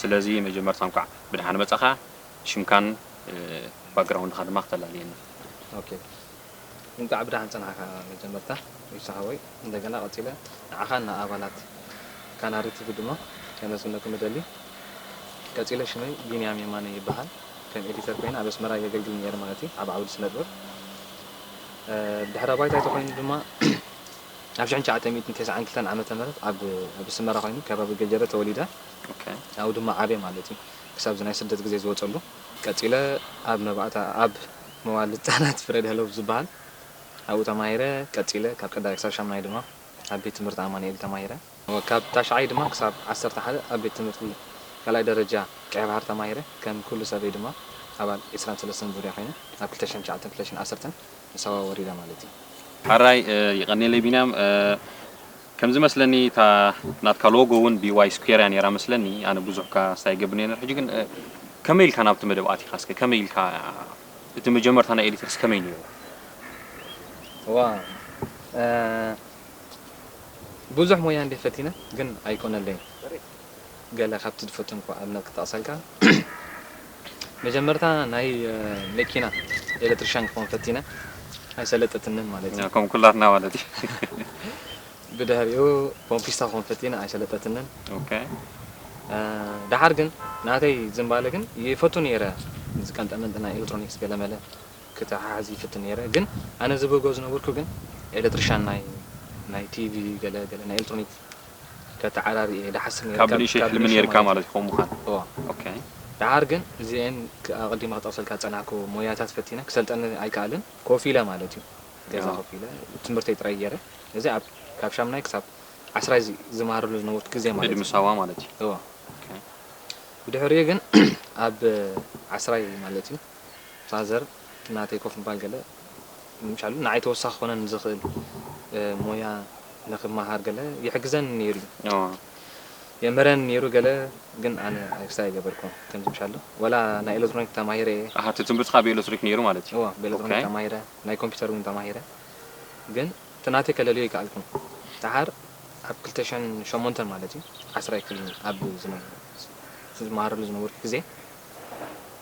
ስለዚ መጀመርታ እንኳዕ ብደሓን መጻኻ ሽምካን ባግራውንድኻ ድማ ክተላልየና። ኦኬ እንቃዕ ብደሓን ጸናሕካ መጀመርታ ዊሳ ሓወይ እንደገና ቀጺለ ንዓኻን ንኣባላት ካናሪ ቲቪ ድማ ከመስግነኩም እደሊ ቀጺለ ሽመይ ቢንያም የማነ ይበሃል ከም ኤዲተር ኮይነ ኣብ ኣስመራ የገልግል ኔረ ማለት እዩ ኣብ ዓውዲ ስነጥበብ ድሕረ ባይታይ ተኾይኑ ድማ ኣብ ሽሕን ትሽዓተ ሚእትን ተስዓን ክልተን ዓመተ ምህረት ኣብ ኣብ ስመራ ኮይኑ ከባቢ ገጀረ ተወሊደ ኣብኡ ድማ ዓብየ ማለት እዩ ክሳብ እዚ ናይ ስደት ግዜ ዝወጸሉ። ቀጺለ ኣብ መባእታ ኣብ መዋእለ ህጻናት ፍረድሀሎብ ዝበሃል ኣብኡ ተማሂረ ቀጺለ ካብ ቀዳማይ ክሳብ ሻምናይ ድማ ኣብ ቤት ትምህርቲ ኣማኑኤል ተማሂረ። ካብ ታሽዓይ ድማ ክሳብ ዓሰርተ ሓደ ኣብ ቤት ትምህርቲ ካልኣይ ደረጃ ቀይባህር ተማሂረ። ከም ኩሉ ሰበይ ድማ ኣባል ዕስራን ሰለስተን ዙርያ ኮይነ ኣብ ክልተ ሽሕን ትሽዓተን ክልተ ሽሕን ዓሰርተን ንሳዋ ወሪደ ማለት እዩ። ሐራይ የቀኔለይ ቢንያም ከም ዝመስለኒ እታ ናትካ ሎጎ ውን ቢዋይ ስኩዌር እያ ኔራ መስለኒ ኣነ ብዙሕ ካስት ኣይገብርን እየ ኔረ ሕጂ ግን ከመይ ኢልካ ናብቲ መደብ ኣቲካ እስከ ከመይ ኢልካ እቲ መጀመርታ ናይ ኤዲተርስ ከመይ ኔሩ። ዋው ብዙሕ ሞያ እንድየ ፈቲነ ግን ኣይኮነለይን ገለ ካብቲ ዝፈተንኩ ኣብነት ክጠቕሰልካ መጀመርታ ናይ መኪና ኤለትርሻን ክኾን ፈቲነ ኣይሰለጠትንን ማለት እዩ ከም ኩላትና ማለት እዩ ብድሕሪኡ ፖምፒስታ ክኾን ፈቲነ ኣይሰለጠትንን ኦኬ ደሓር ግን ናተይ ዝምባለ ግን ይፈቱ ነይረ ዝቀንጠመንጢ ናይ ኤለትሮኒክስ ገለመለ ክተሓሕዝ ይፍትን ኔረ ግን ኣነ ዝብህጎ ዝነበርኩ ግን ኤለትርሻን ናይ ናይ ቲቪ ገለ ገለ ናይ ኤልትሮኒክ ከተዓራሪ እየ ድሓስብ ኔረ ካብ ብንእሽተይ ካብ ሕልሚ ብንእሽተይ ኔርካ ማለት ማለት እዩ ከምኡ ምዃን እዎ ኦኬ ድሓር ግን እዚኤን ክ ኣቀዲመ ክጠቅሰልካ ዝጸናሕኩ ሞያታት ፈቲነ ክሰልጠኒ ኣይክኣልን ኮፍ ኢለ ማለት እዩ ገዛ ያ ኮፍ ኢለ ትምህርተይ ጥራይ ጌረ እዚ ኣብ ካብ ሻምናይ ክሳብ ዓስራይ ዝ ዝመሃረሉ ዝነበርኩ ግዜ ማለት ዕድመ እዩ ሳዋ ማለት እዩ እዎ ኦኬ ብድሕሪኡ ግን ኣብ ዓስራይ ማለት እዩ ፋዘር ናተይ ኮፍ ምባል ገለ ምሻሉ ንዓይ ተወሳኺ ክኾነኒ ዝኽእል ሞያ ንኽመሃር ገለ ይሕግዘኒ ነይሩ እዩ። የምህረኒ ነይሩ ገለ ግን ኣነ ኣይክሳይ ኣይገበርኩን ከምዚ ምሻሉ ዋላ ናይ ኤለትሮኒክ ተማሂረ እየ። ኣሃ እቲ ትምህርትኻ ብኤለትሪክ ነይሩ ማለት እዩ። እወ ብኤለትሮኒክ ኦኬ። ተማሂረ ናይ ኮምፒተር እውን ተማሂረ ግን እቲ ናተይ ከለልዮ ኣይከኣልኩን ደሓር ኣብ ክልተ ሽሕን ሸሞንተን ማለት እዩ ዓስራይ ክፍሊ ኣብ ዝነበ ዝመሃረሉ ዝነበርኩ ግዜ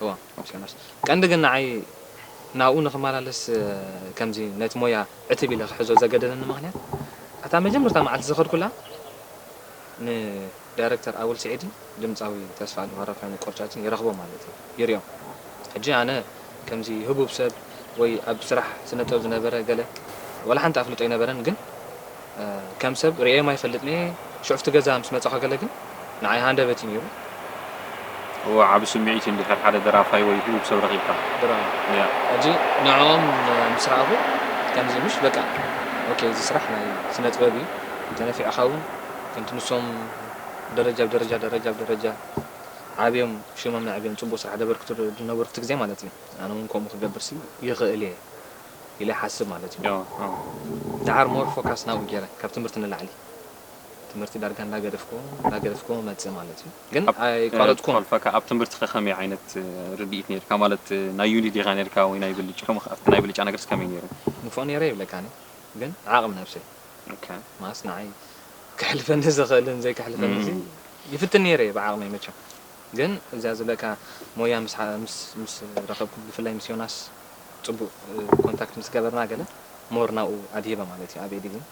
እወ ሓውሲ ዮናስ ቀንዲ ግን ንዓይ ናብኡ ንኽመላለስ ከምዚ ነቲ ሞያ ዕትብ ኢለ ክሕዞ ዘገደደኒ ምኽንያት ኣታ መጀመርታ መዓልቲ ዝኸድኩላ ንዳይረክተር ኣወል ስዒድን ድምጻዊ ተስፋኣለም ኣረፋይነ ቆርጫጭን ይረኽቦም ማለት እዩ ይሪኦም ሕጂ ኣነ ከምዚ ህቡብ ሰብ ወይ ኣብ ስራሕ ስነጥበብ ዝነበረ ገለ ዋላ ሓንቲ ኣፍልጦ ኣይነበረን ግን ከም ሰብ ርእየዮም ኣይፈልጥን'የ፣ ሽዑ ኣብቲ ገዛ ምስ መጻኹ ገለ ግን ንዓይ ሃንደበት'ዩ ነይሩ። እወ፣ ዓቢ ስምዒት'ዩ እንድሕር ሓደ ደራፋይ ወይ ህቡብ ሰብ ረኺብካ። ድራር፣ ሕጂ ንዕኦም ምስ ረኣኹ ከምዚ ምሽ በቃ ኦኬ እዚ ስራሕ ናይ ስነጥበብ'ዩ፣ እንተነፊዕኻ'ውን ከምቲ ንሶም ደረጃ ብደረጃ ደረጃ ብደረጃ ዓብዮም ሽሞም ነዕብዮም ጽቡቕ ስራሕ ደበርክቱ ዝነበሩ'ቲ ግዜ ማለት'ዩ ኣነ'ውን ከምኡ ክገብርሲ ይኽእል'የ ኢለ ይሓስብ ማለት እዩ። ደሓር ሞር ፎካስ ናብኡ ጌረ ካብ ትምህርቲ ንላዕሊ ትምህርቲ ዳርጋ እንዳገደፍኩዎ እንዳገደፍኩዎ መጽእ ማለት እዩ ግን ኣይቋረጽኩን። ክኸልፈካ ኣብ ትምህርቲ ከ ከመይ ዓይነት ርድኢት ኔርካ ማለት ናይ ዩኒ ዲኻ ኔርካ ወይ ናይ ብልጭ ከምኡ ከ ኣብቲ ናይ ብልጫ ነገርስ ከመይ ኔሩ? ንፉዕ ኔረ ይብለካ ኣነ ግን ዓቕሚ ነብሰይ ማለት ንዓይ ከሕልፈኒ ዝኽእልን ዘይከሕልፈኒ እዚ ይፍትን ኔረ እየ ብዓቕመይ መቸም ግን እዚኣ ዝብለካ ሞያ ምስ ምስ ምስ ረኸብኩ ብፍላይ ምስ ዮናስ ጽቡቅ ኮንታክት ምስ ገበርና ገለ ሞር ናብኡ ኣድሂበ ማለት እዩ ኣብ ኤዲቲንግ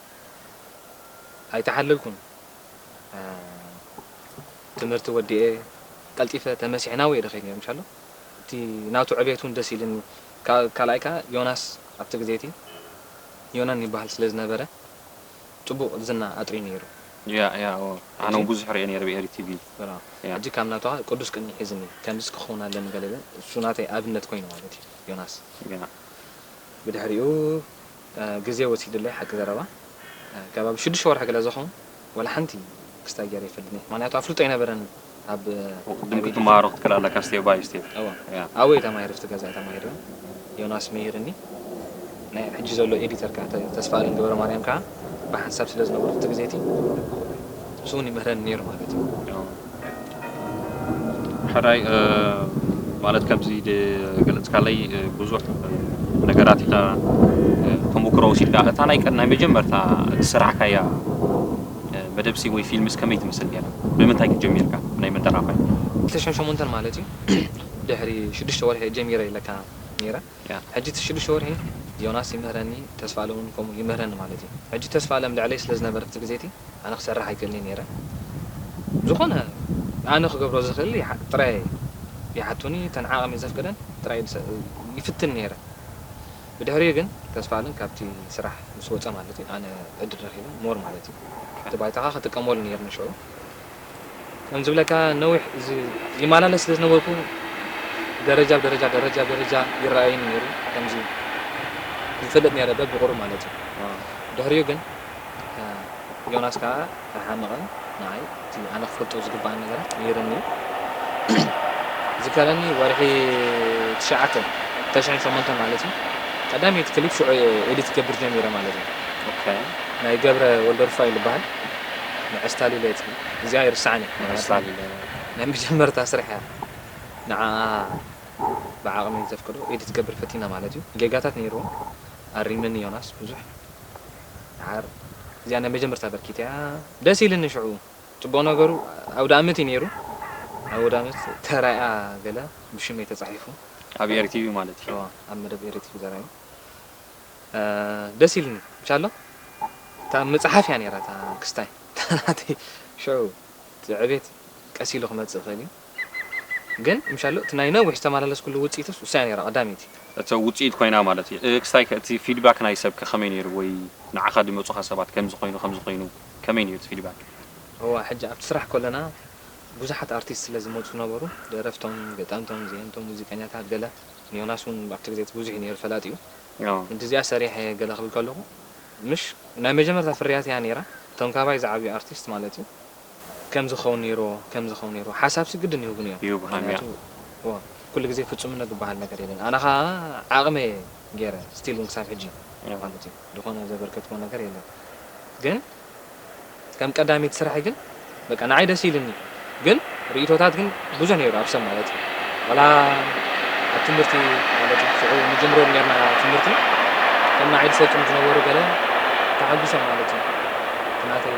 ኣይተሓለልኩን ትምህርቲ ወዲኤ ቀልጢፈ ተመሲሐ ናብኡ እየ ደኺል ነይረ ምሻ ኣሎ እቲ ናቱ ዕቤት እውን ደስ ኢልኒ ካልኣይ ከዓ ዮናስ ኣብቲ ግዜ እቲ ዮናን ይበሃል ስለ ዝነበረ ጽቡቅ ዝና ኣጥርዩ ነይሩ። ያእ ያእ ኣነ ውን ብዙሕ ሪኤ ነይረ ብ ኤሪ ቲቪ ያእ። ሕጂ ካብ ናቱካ ቅዱስ ቅንኢ ሒዝኒ ከምዚስ ክከውን ኣለኒ ገለ ኢለ እሱ ናተይ ኣብነት ኮይኑ ማለት እዩ ዮናስ። ያእ። ብድሕሪኡ ግዜ ወሲድለይ ሓቂ ዘረባ ከባቢ ሽዱሽተ ወርሒ ገለ ዝከውን ዋላ ሓንቲ ክስታይ ገይረ ኣይፈልጥን እየ ምክንያቱ ኣፍልጦ ኣይነበረንን። ኣብ ቅድም ክትመሃሮ ክትክእል ኣለካ ስቴፕ ባይ ስቴፕ ኣበይ ተማሂረ ኣብቲ ገዛ ተማሂረ ዮናስ መሂርኒ ናይ ሕጂ ዘሎ ኤዲተር ከዓ ተስፋ ኣለም ገበረ ማርያም ከዓ ብሓንሳብ ስለ ዝነበሩ እቲ ግዜ እቲ ንሱ እውን ይምህረኒ ነይሩ ማለት እዩ ሕራይ ማለት ከምዚ ገለፅካለይ ብዙሕ ነገራት ኢኻ ተሞክሮ ወሲድካ እታ ናይ መጀመርታ ስራሕካያ መደብሲ ወይ ፊልምስ ከመይ ትመስል ኔራ? ብምንታይ ከ ጀሚርካ ናይ መደራፋይ? ክልተ ሽሕን ሸሞንተን ማለት እዩ ድሕሪ ሽዱሽተ ወርሒ እየ ጀሚረ ኢለካ ኔረ ሕጂ እቲ ሽዱሽተ ወርሒ ዮናስ ይምህረኒ ተስፋኣለም ውን ከምኡ ይምህረኒ ማለት እዩ ሕጂ ተስፋኣለም ልዕለይ ስለ ዝነበረ እቲ ግዜ እቲ ኣነ ክሰርሕ ኣይክእልንየ ኔረ ብዝኮነ ኣነ ክገብሮ ዝክእል ጥራየ ይሓቱኒ እተን ዓቅመይ ዘፍቅደን ጥራይ ይፍትን ኔረ ብድሕሪኡ ግን ተስፋኣለም ካብቲ ስራሕ ምስ ወጸ ማለት እዩ ኣነ ዕድል ረኪበ more ማለት እዩ እቲ ባይታካ ክጥቀመሉ ነይርኒ ሽዑ ከም ዝብለካ ነዊሕ ይማላለስ ስለ ዝነበርኩ ደረጃ ብደረጃ ደረጃ ብደረጃ ይረኣየኒ ነይሩ ከምዚ ይፈልጥ ነይረ በብቁሩብ ማለት እዩ ድሕሪኡ ግን ዮናስ ከኣ ኣይሓመቐን ንዓይ እቲ ኣነ ክፈልጦ ዝግበኣኒ ነገራት ነይርኒ እዩ ዝከረኒ ወርሒ ትሽዓተ ተሽሕን ሸሞንተን ማለት እዩ ቀዳመይቲ ክሊፕ ሽዑ እየ ኤዲት ክገብር ጀሚረ ማለት እዩ ኦኬ ናይ ገብረ ወልደሩፋኤል ዝበሃል ንዐስታሊለየት እዚኣ ኣይርስዓን እየ ንዐስታሊለ ናይ መጀመርታ ስራሕ እያ ንዓኣ ብዓቕመይ ዘፍቅዶ ኤዲት ክገብር ፈቲነ ማለት እዩ ጌጋታት ነይርዎ ኣሪመኒ ዮናስ ብዙሕ ደሓር እዚኣ ናይ መጀመርታ በርኪት እያ ደስ ኢልኒ ሽዑ ጽቡቅ ነገሩ ኣውዳኣመት እዩ ኔሩ ኣብ ኣውዳኣመት ተራኣ ገለ ብሽመይ ተጻሒፉ ኣብ ኤሪ ቲቪ ማለት እዩ እወ ኣብ መደብ ኤሪ ቲቪ ተራዩ ደስ ኢልኒ ብቻሎ እታ ምጽሓፍ እያ ኔራ እታ ክስታይ እታ ናተይ ሽዑ እቲ ዕቤት ቀስ ኢሉ ክመጽእ ይክእል እዩ። ግን ምሻሉ እቲ ናይ ነዊሕ ዝተማላለስኩሉ ውጺኢትስ እሳያ ነይራ ቀዳመይቲ። እቶ ውጺኢት ኮይና ማለት እየ። ክስታይ ከ እቲ ፊድባክ ናይ ሰብ ከ ከመይ ነይሩ ወይ ንዓካ ድመጹካ ሰባት ከምዚ ኮይኑ ከምዚ ኮይኑ ከመይ ነይሩ እቲ ፊድባክ። እዋ ሕጂ ኣብቲ ስራሕ ኮለና ቡዙሓት ኣርቲስት ስለ ዝመጹ ነበሩ ደረፍቶም ገጠምቶም ዘየምቶም ሙዚቀኛታት ገለ ንዮናስ ውን ኣብቲ ግዜ እቲ ቡዙሕ እዩ ነይሩ ፈላጢኡ ምእንቲ እዚኣ ሰሪሐ እየ ገለ ክብል ከለኩ ምሽ ናይ መጀመርታ ፍርያት እያ ነይራ እቶም ካባይ ዝዓብዩ ኣርቲስት ማለት እዩ ከምዚ ክኸውን ነይርዎ ከምዚ ክኸውን ነይርዎ ሓሳብሲ ግድን ይህቡኒ እዮም ይህቡ ከምያ። ምክንያቱ ኩሉ ግዜ ፍጹምነት ዝበሃል ነገር የለን ኣነ ከኣ ዓቅመይ እየ ጌረ ስቲል ውን ክሳብ ሕጂ ማለት እዩ ዝኾነ ዘበርከትክዎ ነገር የለን ግን ከም ቀዳመይቲ ስራሐይ ግን በቃ ንዓይ ደስ ኢሉኒ ግን ሪኢቶታት ግን ብዙሕ ነይሩ ኣብ ሰብ ማለት ዋላ ኣብ ትምህርቲ ማለት ሽዑ ንጅምሮ ነርና ትምህርቲ ከም ንዓይ ዝሰልጥኑ ዝነበሩ ገለ ተዓጊሶም ማለት እዩ እቲ ናተይ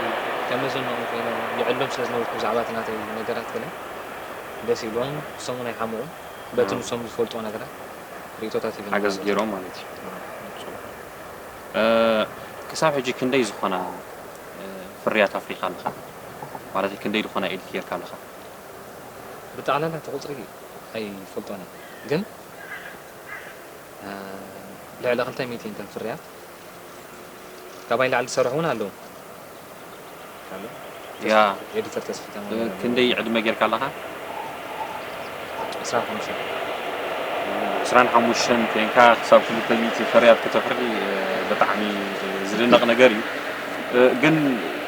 ከም መዘነኦም ኮይነ ይዕሎም ስለ ዝነበርኩ ብዛዕባ እቲ ናተይ ነገራት ገለ ደስ ኢልዎም ንሶምውን ኣይሓመቑ በቲ ንሶም ዝፈልጥዎ ነገራት ሪኢቶታት ሂበኒ ሓገዝ ገይሮም ማለት እዩ ፅቡቕ ክሳብ ሕጂ ክንደይ ዝኾና ፍርያት ኣፍሪኻ ኣለኻ ማለተይ ክንደይ ዝኾና ኤዲት ገይርካ ኣለኻ? ብጠቅላላ እቲ ቁጽሪ ኣይፈልጦን እየ ግን ልዕሊ ክልተ ሚእቲ እንተን ፍርያት ካባይ ላዕሊ ዝሰርሑ እውን ኣለዉ ኤዲተር ተስፊ ተማም ክንደይ ዕድመ ጌርካ ኣለኻ ዕስራን ሓሙሽተን ዕስራን ሓሙሽተን ኮይንካ ክሳብ ክልተ ሚእቲ ፍርያት ከተፍሪ ብጣዕሚ ዝድነቕ ነገር እዩ ግን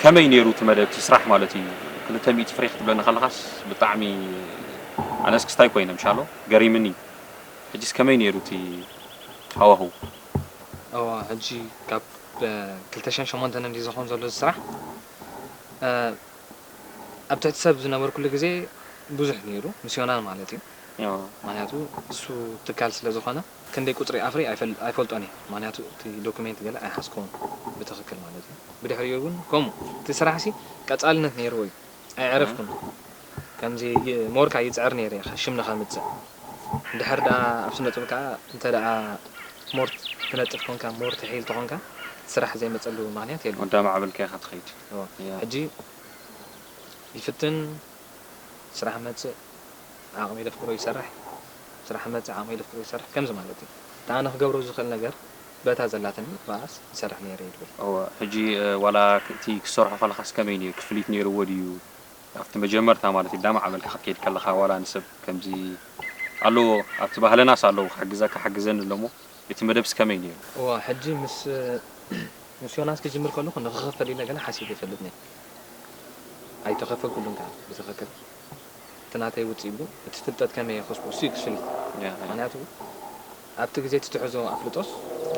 ከመይ ነይሩ እቲ መደብ እቲ ስራሕ ማለት እዩ ክልተ ሚእቲ ፍሬ ክትብለኒ ከለኻስ ብጣዕሚ ኣነ እስክስታይ ኮይነ ምሻሎ ገሪምኒ ሕጂስ ከመይ ኔሩ እቲ ሃዋህው። እወ ሕጂ ካብ ክልተ ሽሕን ሸሞንተን እንድዩ ዝኸውን ዘሎ እዚ ስራሕ። ኣብ ትሕቲ ሰብ ዝነበርኩሉ ግዜ ብዙሕ ኔሩ፣ ምስዮናን ማለት እዩ። ምኽንያቱ ንሱ ትካል ስለዝኾነ። ክንደይ ቁጽሪ ኣፍሪ ኣይፈልጦን እየ ምክንያቱ እቲ ዶኩሜንት ገለ ኣይሓዝኩዎን ብትክክል ማለት እዩ ብድሕሪኡ ውን ከምኡ እቲ ስራሕሲ ቀጻልነት ነይርዎ እዩ ኣይዐረፍኩን ከምዚ ሞርካ ይጽዕር ነይረ እየ ሽም ንከምጽእ እንድሕር ደኣ ኣብ ስነ ጥብ ከኣ እንተ ደኣ ሞር ትነጥፍ ኮንካ ሞር ትሒል ተኮንካ ስራሕ ዘይመጸሉ ምክንያት የለን ኣዳማዕብልካ ኢካ ትከይድ ሕጂ ይፍትን ስራሕ መጽእ ዓቕሚ ለፍቅሮ ይሰርሕ ስራሕ መጽ ዓቕሚ ለፍቅሮ ይሰርሕ ከምዚ ማለት እዩ እቲ ኣነ ክገብሮ ዝኽእል ነገር በታ ዘላትኒ ባኣስ ይሰርሕ ነይረ እዩ ድብል። እወ ሕጂ ዋላ እቲ ክትሰርሖ ከለኻስ ከመይ ነይሩ ክፍሊት ነይርዎ ድዩ ኣብቲ መጀመርታ ማለት እዩ ዳማዕበልካ ክትከይድ ከለኻ ዋላ ንሰብ ከምዚ ኣለዎ ኣብቲ ባህልናስ ኣለዉ ክሕግዘካ ሓግዘኒ ኣሎ እሞ እቲ መደብስ ከመይ ነይሩ። እወ ሕጂ ምስ ምስ ዮናስ ክጅምር ከለኹ ንኽኽፈል ኢለ ገለ ሓሲበ ይፈልጥ ነይረ ኣይተኸፈልኩሉን ካኣ ብትኽክል። እቲ ናተይ ውጽኢት ግን እቲ ፍልጠት ከመይ የኸስቦ እሱ እዩ ክፍሊ ምክንያቱ ኣብቲ ግዜ እቲ ትሕዞ ኣፍልጦስ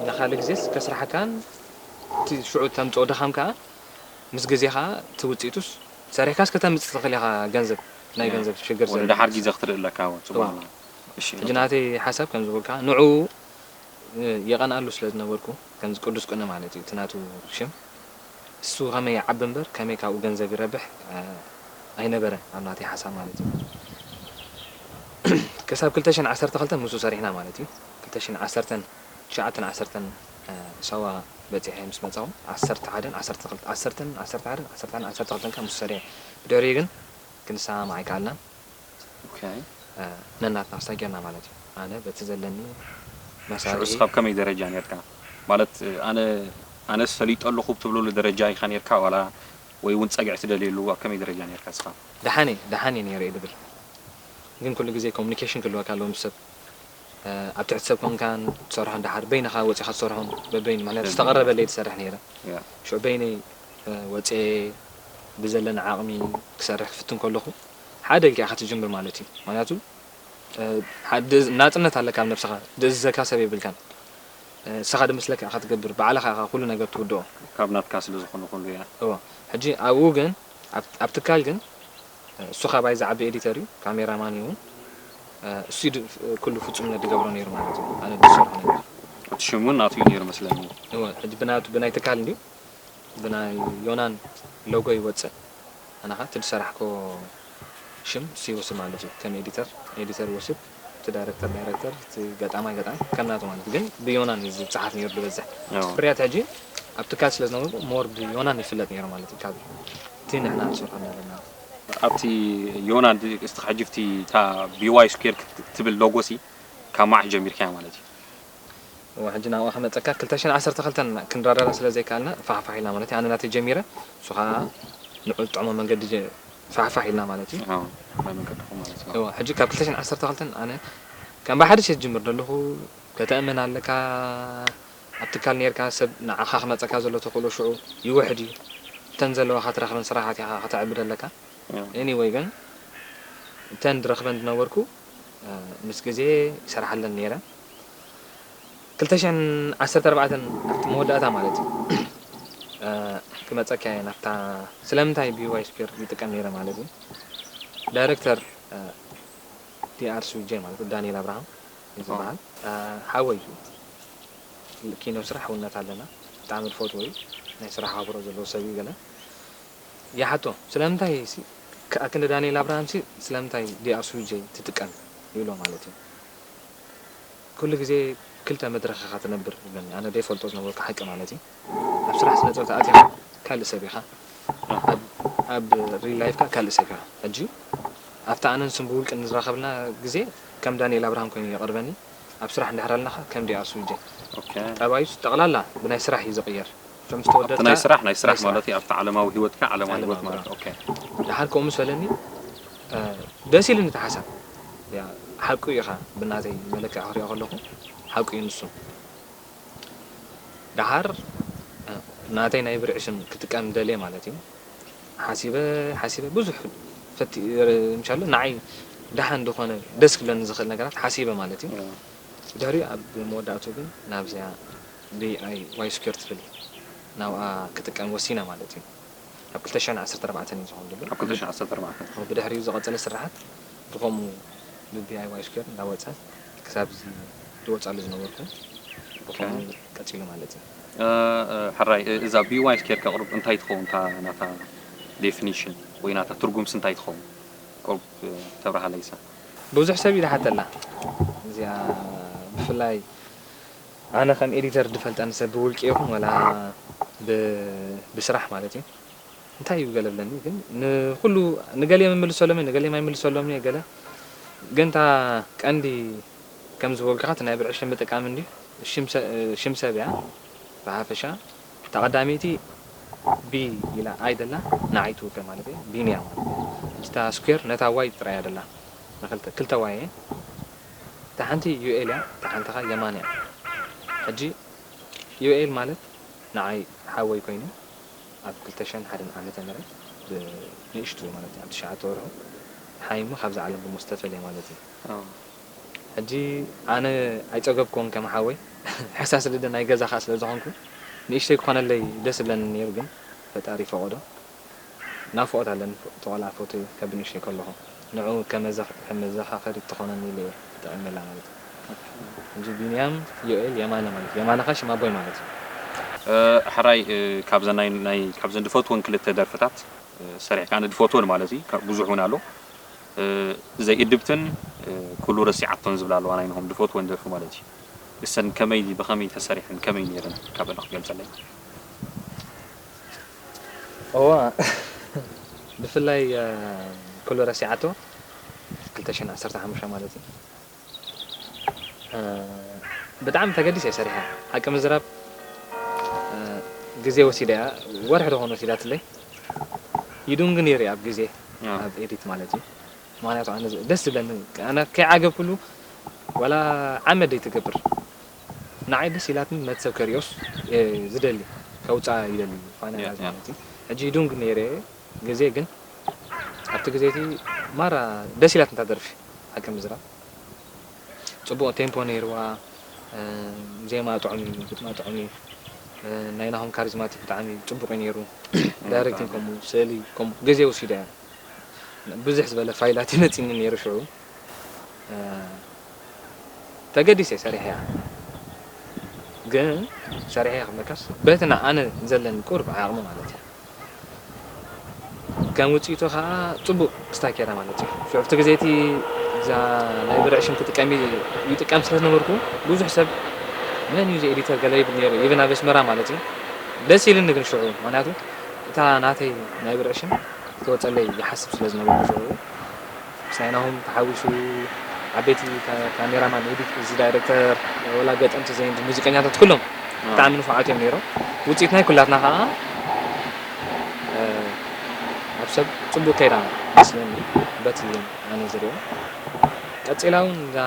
ንኻልእ ግዜስ ከስርሓካን እቲ ሽዑ እተምጽኦ ድኻም ከኣ ምስ ግዜ ከኣ እቲ ውጽኢቱስ ሰሪሕካስ ከተምጽእ ትኽእል ኢኻ ገንዘብ ናይ ገንዘብ ሽግር ወደ ዳሓር ግዜ ክትርኢ ኣለካ እወ ጽቡቕ ኣሎ እሺ ሕጂ ናተይ ሓሳብ ከምዚ በልኩኻ ንዕኡ የቐንኣሉ ስለ ዝነበርኩ ከምዚ ቅዱስ ቅነ ማለት እዩ እቲ ናቱ ሽም እሱ ከመይ ይዓቢ እምበር ከመይ ካብኡ ገንዘብ ይረብሕ ኣይነበረን ኣብ ናተይ ሓሳብ ማለት እዩ ከሳብ ክልተ ሽሕን ዓሰርተ ክልተን ምሱ ሰሪሕና ማለት እዩ ክልተ ሽሕን ዓሰርተን ትሽዓተን ዓሰርተን ሳዋ በጺሐ ምስ መጻኹ ዓሰርተ ሓደን ዓሰርተ ክልተ ዓሰርተን ዓሰርተ ሓደን ዓሰርተ ሓደን ዓሰርተ ክልተን ከኣ ምሱ ሰሪሐ ብድሕሪኡ ግን ክንሰማማዕ ኣይከኣልናን ነናትና ሰጊርና ማለት እዩ ኣነ በቲ ዘለኒ መሳርሂ። ሽዑስ ኣብ ከመይ ደረጃ ኔርካ ማለት ኣነ ኣነስ ፈሊጦ ኣለኹ ብትብለሉ ደረጃ ኢኻ ኔርካ ዋላ ወይ ውን ጸግዒ ትደልየሉ ኣብ ከመይ ደረጃ ኔርካ እስኻ? ደሓን እየ ደሓን እየ ኔረ እየ ድብል ግን ኩሉ ግዜ ኮሙኒኬሽን ክህልወካ ኣለዎ ምስ ሰብ ኣብ ትሕቲ ሰብ ኮንካን ትሰርሖን ደሓር በይንኻ ወጺኻ ትሰርሖን በበይኑ ምኽንያቱ ዝተቐረበለይ ትሰርሕ ኔረ ሽዑ በይነይ ወጽየ ብዘለኒ ዓቕሚ ክሰርሕ ክፍትን ከለኹ ሓደ ኢልካ ኢካ ትጅምር ማለት እዩ ምክንያቱ ናጽነት ኣለካ ኣብ ነብስካ ድእዝዘካ ሰብ የብልካን ንስካ ድመስለካ ኢካ ትገብር ባዕልካ ኢካ ኩሉ ነገር ትውድኦ ካብ ናትካ ስለ ዝኮነ ኩሉ እያ። እወ ሕጂ ኣብኡ ግን ኣብ ትካል ግን እሱ ካባይ ዝዓቢ ኤዲተር እዩ ካሜራ ማን እዩ እሱ እዩ ኩሉ ፍጹምነት ድገብሮ ነይሩ ማለት እዩ ኣነ ድሰርሖ ነበር። እቲ ሽም ውን ናቱ እዩ ነይሩ መስለኒ። እወ ሕጂ ብናቱ ብናይ ትካል እንድዩ ብናይ ዮናን ሎጎ ይወጽእ። ኣነ ከኣ እቲ ዝሰራሕኮ ሽም ሲሁ ስም ኣሎ እቲ ከም ኤዲተር ኤዲተር ይወስድ እቲ ዳይረክተር ዳይረክተር እቲ ገጣማይ ገጣሚ ከም ናቱ ማለት ግን ብዮናን እዩ ዝጸሓፍ ኔሩ ዝበዝሕ ፍርያት ሕጂ ኣብ ትካል ስለ ዝነበርኩ ሞር ብዮናን ይፍለጥ ኔሩ ማለት እዩ ካብ እቲ ንሕና ንሰርሖ ዝነበርና ኣብቲ ዮናን እስቲ ሕጂ ኣብቲ እታ BY Square ትብል ሎጎ ሲ ካብ መዓስ ጀሚርካያ ማለት እዩ እወ ሕጂ ናብኣ ክመጸካ ክልተ ሽሕን ዓሰርተ ክልተን ክንረዳዳእ ስለ ዘይከኣልና ፋሕፋሕ ኢልና ማለት እዩ ኣነ ናተይ ጀሚረ ንሱ ከኣ ንዕኡ ዝጥዕሞ መንገዲ ፋሕፋሕ ኢልና ማለት እዩ ኣዎ ናይ መንገድኹም ማለት እዩ እወ ሕጂ ካብ ክልተ ሽሕን ዓሰርተ ክልተን ኣነ ከም ብሓድሽ እየ ዝጅምር ዘለኹ ከተእምን ኣለካ ኣብ ትካል ኔርካ ሰብ ንዓኻ ክመጸካ ዘሎ ተኽእሎ ሽዑ ይውሕድ እዩ እተን ዘለዋኻ ትረኽበን ስራሓት ኢኻ ከተዕቢ ዘለካ ኣኒወይ ግን እተን ድረኽበን ዝነበርኩ ምስ ግዜ ይሰርሓለን ነይረ ክልተ ሽሕን ዓሰርተ ኣርባዕተን ኣብቲ መወዳእታ ማለት እዩ ክመጸኪያ እየ ናብታ ስለምንታይ ቢዋይ ስኩዌር ይጥቀም ነይረ ማለት እዩ ዳይረክተር ዲኣርሱጄ ማለት ዳንኤል ኣብርሃም እዩ ዝበሃል ሓወይ እዩ ኪኖ ስራሕ ውነት ኣለና ብጣዕሚ ዝፈትዎ እዩ ናይ ስራሕ ኣክብሮ ዘለዎ ሰብ እዩ ገለ ይሓቶ ስለምንታይ ሲ ክኣ ክንዲ ዳኒኤል ኣብርሃም ሲ ስለምንታይ DRSUJ ትጥቀም ይብሎ ማለት እዩ ኩሉ ግዜ ክልተ መድረኽ ኢኻ ትነብር ይብለኒ ኣነ ደይፈልጦ ዝነበርኩ ሓቂ ማለት እዩ ኣብ ስራሕ ስነ ጥበብ ተኣቲኻ ካልእ ሰብ ኢኻ ኣብ ሪል ላይፍካ ካልእ ሰብ ኢኻ ሕጂ ኣብቲ ኣነ ንሱን ብውልቂ ንዝራኸብልና ግዜ ከም ዳኒኤል ኣብርሃም ኮይኑ የቕርበኒ ኣብ ስራሕ እንድሕር ኣለኻ ከም DRSUJ ጠባዩስ ጠቕላላ ብናይ ስራሕ እዩ ዝቕየር ከም ዝተወደድካ ኣብቲ ናይ ስራሕ ናይ ስራሕ ማለተይ ኣብቲ ዓለማዊ ሂወትካ ዓለማዊ ሂወት ማለት ኦኬ ደሓር ከምኡ ምስ በለኒ ደስ ኢሉኒ እቲ ሓሳብ ሓቁ እዩ ኢኻ ብናተይ መለክዒ ክሪኦ ከለኹ ሓቁ እዩ ንሱ ደሓር ናተይ ናይ ብርዒ ሽም ክጥቀም ደልየ ማለት እዩ ሓሲበ ሓሲበ ብዙሕ ፈቲ ምሻሎ ንዓይ ደሓን ዝኾነ ደስ ክብለኒ ዝኽእል ነገራት ሓሲበ ማለት እዩ ድሕሪኡ ኣብ መወዳእትኡ ግን ናብዚኣ DIY-Secure ትብል ናብኣ ክጥቀም ወሲነ ማለት እዩ። ኣብ ክልተ ሽሕን ዓሰርተ ኣርባዕተን እዩ ዝኸውን ዘሎ። ኣብ ክልተ ሽሕን ዓሰርተ ኣርባዕተን። ኣብ ብድሕሪኡ ዝቐጸለ ስርሓት ብኸምኡ ብDIY-Secure እንዳወጸ ክሳብ እዚ ዝወጻሉ ዝነበርኩ ብኸምኡ ቀጺሉ ማለት እዩ። ሕራይ እዛ BY-Secure ከቕርብ እንታይ ትኸውን እታ ናታ Definition ወይ ናታ ትርጉምስ እንታይ ትኸውን ኮብ ተብርሃለይሰ። ብዙሕ ሰብ እዩ ዝሓተላ እዚኣ ብፍላይ ኣነ ከም ኤዲተር ድፈልጠን ሰብ ብውልቂ ይኹን ወላ ብ ብስራሕ ማለት እዩ እንታይ እዩ ገለ ብለኒ ግን ንኹሉ ንገሌ ምምልሰሎም እየ ንገሌ ማይምልሰሎምን እየ ገለ ግን እታ ቀንዲ ከም ዝበልኩኻ እቲ ናይ ብልዒ ሽም ምጥቃም እንድዩ ሽም ሰ ሽም ሰብ እያ ብሓፈሻ እታ ቀዳመይቲ ቢ ኢላ ኣይ ደላ ንዓይ ትውክል ማለት እየ ቢንያ ማለት እያ ሕጂ እታ ስኩዌር ነታ ዋይ ጥራይ እያ ደላ ንክልተ ክልተ ዋይ እየን እታ ሓንቲ ዩኤል እያ እታ ሓንቲ ከኣ የማን እያ ሕጂ ዩኤል ማለት ንዓይ ሓወይ ኮይኑ ኣብ ክልተ ሽሕን ሓደን ዓመተ ምህረት ብ ንእሽቱ ማለት ኣብ ትሽዓተ ወርሑ ሓይሙ ካብዛ ዓለም ብሞት ዝተፈልየ ማለት እዩ ሕጂ ኣነ ኣይጸገብኩዎን ከም ሓወይ ሕሳስ ልደ ናይ ገዛ ከኣ ስለ ዝኮንኩ ንእሽተይ ክኮነለይ ደስ እብለኒ ኔሩ ግን ፈጣሪ ፈቆዶ ናፍቆት ኣለኒ እቲ ቆልዓ ፎቶኡ ከብ ንእሽተይ ከለኩ ንዕኡ ከም መዘካከሪት ትኮነኒ ኢለ እየ ተጠቂመላ ማለት እዩ ሕጂ ቢንያም ዮኤል የማነ ማለት እዩ የማነ ከኣ ሽም ኣቦይ ማለት እዩ። ሕራይ ካብዘን ናይ ካብዘን ድፈትወን ክልተ ደርፍታት ሰሪሕ ከኣ ድፈትወን ማለት እዪ ካብ ብዙሕ ውን ኣሎ ዘይ እድብትን ኩሉ ረሲዓቶን ዝብላ ኣለዋ ናይ ናሆም ድፈትወን ደርፊ ማለት እዪ እሰን ከመይ ብከመይ ተሰሪሐን ከመይ ነይረን ካብ እለ ክትገልጸለይ። እወ ብፍላይ ኩሉ ረሲዓቶ ክልተ ሽሕን ዓሰርተ ሓሙሽተ ማለት እዩ ብጣዕሚ ተገዲሰ እየ ሰሪሐ ሓቂ ምዝራብ ግዜ ወሲደ እያ ወርሒ ዶ ኾን ወሲዳትለይ ይዱንግ ነይሩ እየ ኣብ ግዜ ኣብ ኤዲት ማለት እዩ ምክንያቱ ኣነ ደስ ዝብለኒ ኣነ ከይዓገብኩሉ ዋላ ዓመት ደይትገብር ንዓይ ደስ ኢላትኒ ነቲ ሰብ ከሪኦስ ዝደሊ ከውጽኣ ይደሊ ፋና እያ ዝኮነት ሕጂ ይዱንግ ነይረ ግዜ ግን ኣብቲ ግዜ እቲ ማራ ደስ ኢላትኒ እታ ደርፊ ሓቂ ምዝራብ ጽቡቅ ቴምፖ ነይርዋ ዜማ ጥዑም እዩ ግጥማ ጥዑም እዩ ናይ ናሆም ካሪዝማቲክ ብጣዕሚ ጽቡቅ እዩ ነይሩ ዳይሬክቲንግ ከምኡ ስእሊ ከምኡ ግዜ ወሲዳ እያ ብዝሕ ዝበለ ፋይላት እዩ መጺኒ ነይሩ ሽዑ ተገዲሰ ሰሪሐያ ግን ሰሪሐያ ክብለካስ በቲ ኣነ ዘለኒ ቁሩብ ዓቅሚ ማለት እዩ ከም ውጽኢቱ ከዓ ጽቡቅ ስታኬራ ማለት እዩ ሽዑ ኣብቲ ግዜ እቲ እዛ ናይ ብርዒ ሽም ክጥቀም ይጥቀም ስለ ዝነበርኩ ብዙሕ ሰብ መን እዩ ኤዲተር ገለ ይብል ነይሩ ይብን ኣብ ኣስመራ ማለት እዩ ደስ ኢልኒ ግን ሽዑ ምክንያቱ እታ ናተይ ናይ ብርዒ ሽም ክወፀለይ ይሓስብ ስለ ዝነበርኩ ሽዑ ሲሳይ ናሆም ተሓዊሱ ዓበይቲ ካሜራ ማን ኤዲት እዚ ዳይረክተር ወላ ገጠምቲ ዘንድ ሙዚቀኛታት ኩሎም ብጣዕሚ ንፉዓት እዮም ነይሮም ውፅኢት ናይ ኩላትና ከዓ ኣብ ሰብ ፅቡቅ ከይዳ መስለኒ በቲ ኣነ ዝሪኦ ቀፂላ እውን እዛ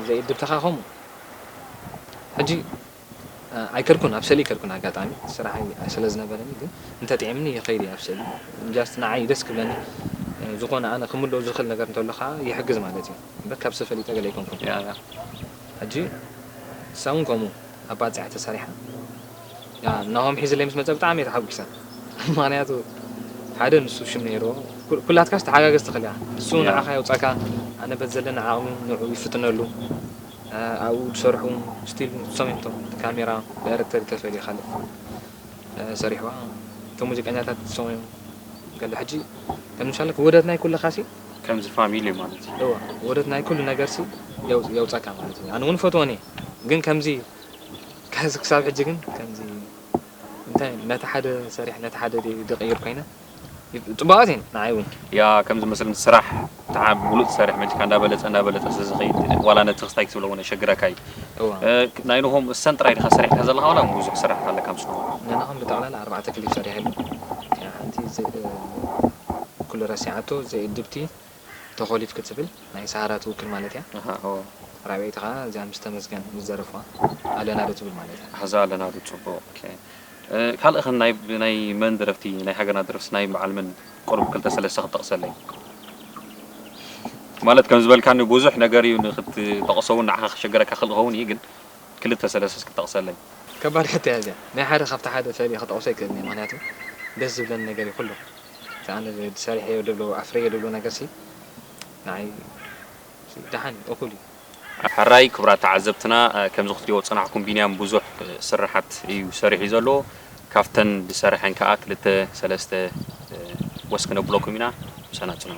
ዘይእድብትኻ ከምኡ ሕጂ ኣይከድኩን ኣብ ሰእሊ ኣይከድኩን ኣጋጣሚ ስራሐይ ስለ ዝነበረኒ ግን እንተ ጢዒምኒ ይከይድ እየ ኣብ ሰእሊ ጃስት ንዓይ ደስ ክብለኒ ዝኮነ ኣነ ክምልኦ ዝክእል ነገር እንተሎ ካኣ ይሕግዝ ማለት እዩ እምበር ካብ ሰብ ፈሊጠ ገለ ኣይኮንኩን። ያእ ያእ ሕጂ ንሳ ውን ከምኡ ኣባጺዓ ተሰሪሓ ያእ ናሆም ሒዝለይ ምስ መጸ ብጣዕሚ እየ ተሓጉሰ ምክንያቱ ሓደ ንሱ ሽም ነይርዎ ኩላትካስ ተሓጋገዝቲ ክሊኣ ንሱ ንዓካ የውጻካ ኣነ በቲ ዘለኒ ዓቅሚ ንዑኡ ይፍትነሉ ኣብኡ ዝሰርሑ ውን ስቲል ንሶም እዮም እቶም እቲ ካሜራ ዳይረክተር ተፈሊ ካልእ ሰሪሕዋ እቶም ሙዚቀኛታት ንሶም እዮም ገለ ሕጂ ከም ምሳሌ ውህደት ናይ ኩልኻ ሲ ከምዚ ፋሚሊ እዩ ማለት እዩ። እወ ውህደት ናይ ኩሉ ነገር ሲ የውጸካ ማለት እዩ ኣነ ውን ይፈትወን እየ ግን ከምዚ ክሳብ ሕጂ ግን ከምዚ እንታይ ነቲ ሓደ ሰሪሕ ነቲ ሓደ ደይ ድቅይር ኮይነ። ጽቡቃት እየን ንዓይ ውን። ያኣ ከምዚ መሰል ስራሕ ትዓብ ሙሉእ ትሰርሕ መጺካ እንዳ በለጸ እንዳ በለጸ ስለ ዝከይድ ዋላ ነቲ ክስታይ ክትብሎ ውን የሸግረካ እዩ እወ ናይ ንሆም እሰን ጥራይ ዲካ ሰሪሕካ ዘለካ ዋላ ውን ቡዙሕ ስራሕካ ኣለካ ምስ ንሆም። ናይ ናሆም ብጠቅላላ ኣርባዕተ ክሊፕ ሰሪሐሉ እቲኣ ሓንቲ ኩሉ ረሲዓቶ ዘይእድብቲ ተኾሊፍ ክትብል ናይ ሳሃራ ትውክል ማለት እያ ኣሃ ኣዎ። ራብዐይቲ ከኣ እዚኣ ምስ ተመስገን ምስ ዘረፍዋ ኣለና ዶ ትብል ማለት እያ። ኣዛ ኣለና ዶ ጽቡቅ እከ ካልእ ከ ናይ ብናይ መን ደረፍቲ ናይ ሃገርና ደረፍትስ ናይ በዓል መን ቁሩብ ክልተ ሰለስተ ክትጠቅሰለይ ማለት ከም ዝበልካኒ ቡዙሕ ነገር እዩ ንክትጠቅሶ ውን ንዓካ ክሸግረካ ይክእል ክከውን እዩ ግን ክልተ ሰለስተ እስኪ ጠቅሰለይ። ከባድ ሕቶ እያ እዚኣ ናይ ሓደ ካብቲ ሓደ ፈልየ ክጠቅሶ ኣይክእልን እየ ምክንያቱ ደስ ዝብለኒ ነገር እዩ ኩሉ። እቲ ኣነ ዝሰሪሐዮ ድብሎ ኣፍርየ ድብሎ ነገርሲ ንዓይ ደሓን እዩ እኹል እዩ። ሐራይ ክብራት ተዓዘብትና ከምዚ ክትሪኦ ዝጸናሕኩም ቢንያም ብዙሕ ስርሓት እዩ ሰሪሑ ዘሎ ካፍተን ዝሰረሐን ከኣ ክልተ ሰለስተ ወስ ክነብለኩም ኢና ምሳና ጽንሑ።